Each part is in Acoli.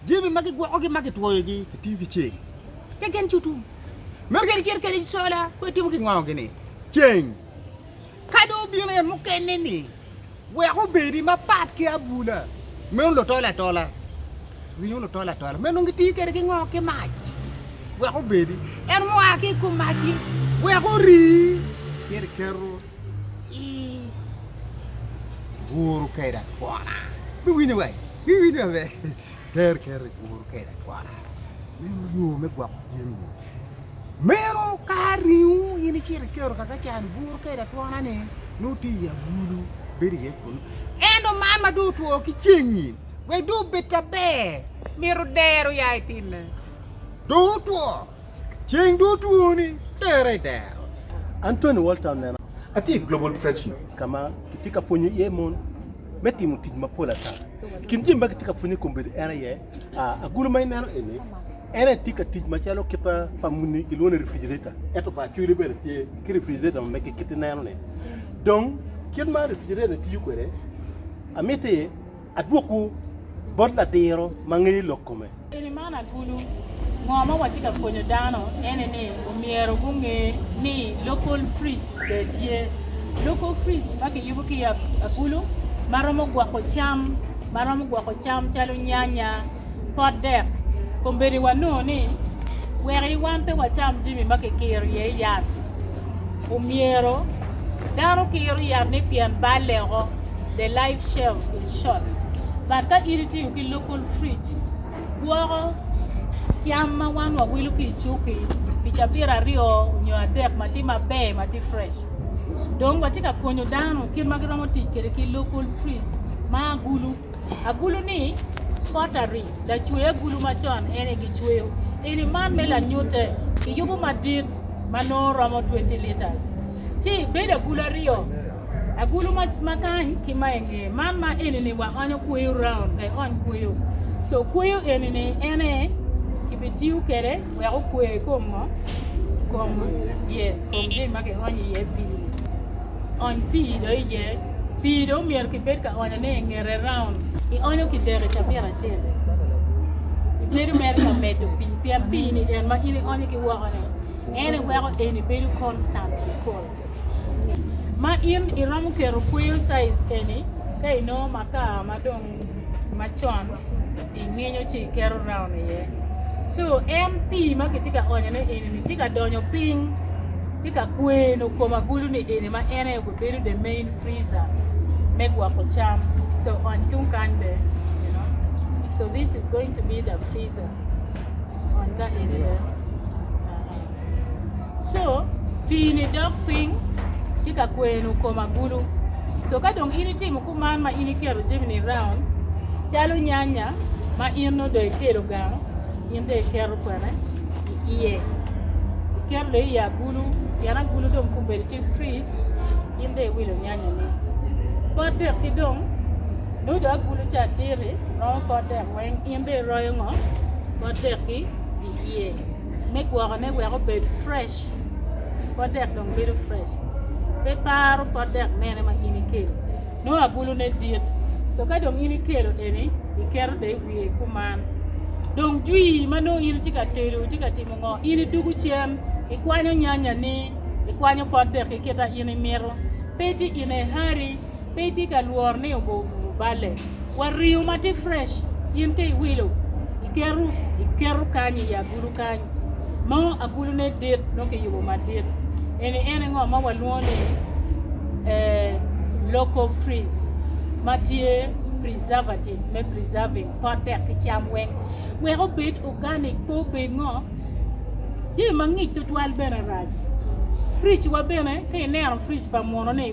Jami ma gigwokogi ma gitwoyogi kitiyo ki ceng keken cutu. Meno kadi cito kadi cola ko itimo ki ngo gini ceng ka dong obino en mukene ni wek obedi ma pat ki abula meno lutol atola ringo lutol atola meno gitiyo kede ki ngo ki mac wek obedi en mua ki kum mac wek ori kiri keto i wuru keda kona biwinyo wai. Iwinyo maber? Ter kero i kwowu kede akwaka. Meno yo me gwoko jami. Meno ka ringo in icito ikero kaka can buru kede atwona-ni, nongo tye i agulu, bedo iye kunu. Ento man ma dong otwo ki ceng-nyi, wek dong obed ta ber, myero dero ya itinne. Dong otwo, ceng dong otwoni, tere i dero. Anthony Walton, Atye i Global Fellowship ka ma kitye ka pwonyo iye mon. me timo tic mapol ata. I kin jami ma kitye ka pwonye i kom bedo en aye agulu ma ineno eni, en aye tye ka tic macalo kit pa muni kilwongo ni refrigerator ento pa acwiri bene tye ki refrigerator ma mege kit ineno-ni. Dong kit ma refrigerator ni tiyo kwede, amiti adwokwu bot ladiro ma ngeyo lok kome. Eni man agulu, ngo ma watye ka pwonyo dano ene ni omyero gunge ni local fridge bene tye. Local fridge ma kiyubo ki agulu ma romo gwoko cam ma romo gwoko cam calo nyanya, pot dek, kombeddi wanongo ni wek wan pe wacam jami ma kikiro iye yat omyero dano kiro yat ni pien balle oko the life shelf is short but ka in itiyo ki local fridge gwoko cam ma wan wawilo ki i cukki pi cabit aryo nyo adek ma tye maber ma tye fresh dong watye ka pwonyo dano kit ma giromo tic kwede ki local fruits ma agulu agulu-ni pottery lacwe agulu macon en aye gicweyo eni man me lanyute kiyubo madit ma nongo romo twenty litres ci bedo agulu aryo Agulu ma, ma kany ki ma inge man ma enini wa onyo kweyo round ka iony kweyo. So kweyo enini ene kibitiyo kede wek okwe kom ngo kom yes kom gin ma kionyo iye pii. Ony pii do iye. Pii do myero kibed ka onyo ne ingete round. Ionyo kidek i cabit acel. Ibedo mere ka medo pii pien pii ni en ma in ionyo ki woko ni ene weko eni bedo constant cold. Ma in iromo keto kweyo size eni ka inongo makar ma dong macon ingenyo ci iketo round iye so en pii ma kitye ka onyo ne eni ni tye ka donyo piny tye ka kweno kom agulu ni eni ma en aye obedo the main freezer me gwoko cam so ony tung kany bene you know so this is going to be the freezer ony ka eni bene co pii-ni dok piny tye ka kwenu kom agulu co ka dong in itimo kuman ma in iketo jami-ni raun calo nyanya ma in nongo dong ikelo gang in dong iketo kwene iye iketo dong i agulu pien agulu dong kong obedo tye fridge in dong iwilo nyanya-ni pot dek ki dong nongo dong agulu ca diti romo pot dek weng in dong iroyo ngo pot dek-ki iye. me gwokone wek obed fresh pot dek dong bedo fresh pe paro pot dek mene ma in ikelo nongo abulune dit so ka dong in ikelo eni iketo de i wiye kuman dong jwi ma nongo in itye ka tedo itye ka timo ngo in idwogo cen ikwanyo nyanyani ikwanyo pot deki kit ma in imito pe tye in i hurry pe itye ka lworo ni obo obumo balle. Wa riyo ma tye fresh, in ka iwilo, iketo, iketo kany i agulu kany. Mo agulu ne dit, nongo kiyubo madit. Eni ene ngo ma walwongo ni eh, local freeze ma tye preservative me preserving pot dek ki cam weng. Wek obed organic pe obed ngo. Jami mangic tutwal bene rac. Fridge wa bene, ka ineno fridge pa muno ni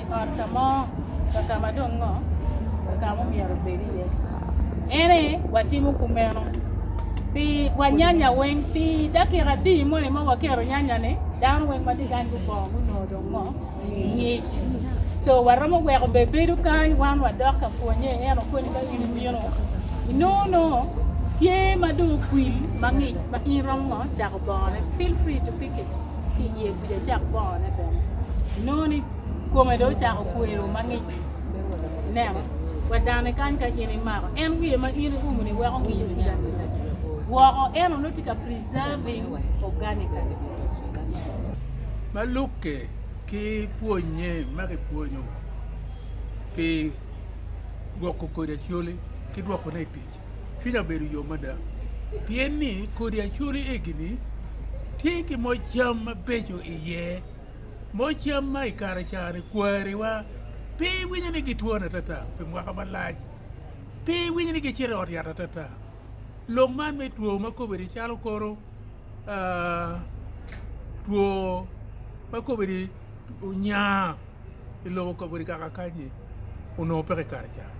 I ot ka mo, kaka ma dong ngo kaka ma omyero obed iye? Ene watimo kumeno pi wanyanya weng pi dakika adi moni ma waketo nyanya-ni dano weng ma tye kany gubongo gunongo dong ngo ngic so waromo weko be bedo kany wan wadok ka pwonye en okoni ka in imino inongo nongo tye ma dong okwil mangic ma in romo ngo cako bongone feel free to pick it ki i ye kuca cak bongo ne bene inongo ni kome dong ocako kwero mangic ineno wadane kany ka in imako en wiye ma in iumo ni weko ngic kuca woko eno nongo tye ka preserving organic ma lukke ki pwonye ma ki pwonyo pi gwoko kodi acholi ki dwoko ne i tic. cwinya obedo yom mada pien ni kodi acoli egi-ni tye ki moc cam mabeco iye. Moc cam ma i kare cani kwariwa pe iwinyo ni gitwoni atata pi mwaka malac, pe iwinyo ni gicito i ot yat atata. Lok man me two ma kobedi calo kono two ma kobedi onya. i lobo kabedo kaka akanyi onongo peke i kare cani.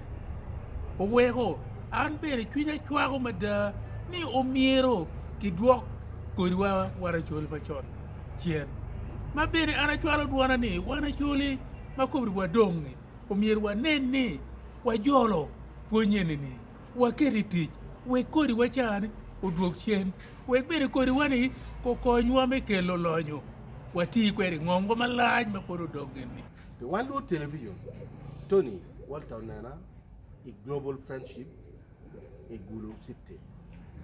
Oweko an bene cwinya cwako mada ni omyero kidwok kodiwa wan acoli macon cen. Ma bene an acwalo dwona ni wan acoli ma kobri wadong-ngi omyero wanen ni wajolo pwony eni-ni waket i tic wek kodi wa cani odwog cen wek bene kodi wa ni okony wa me kelo lonyo wati kwede i ngom wa malac ma pud odong gin ni. Pi wan luot television, Tony Walter onena i Global Friendship i Gulu City.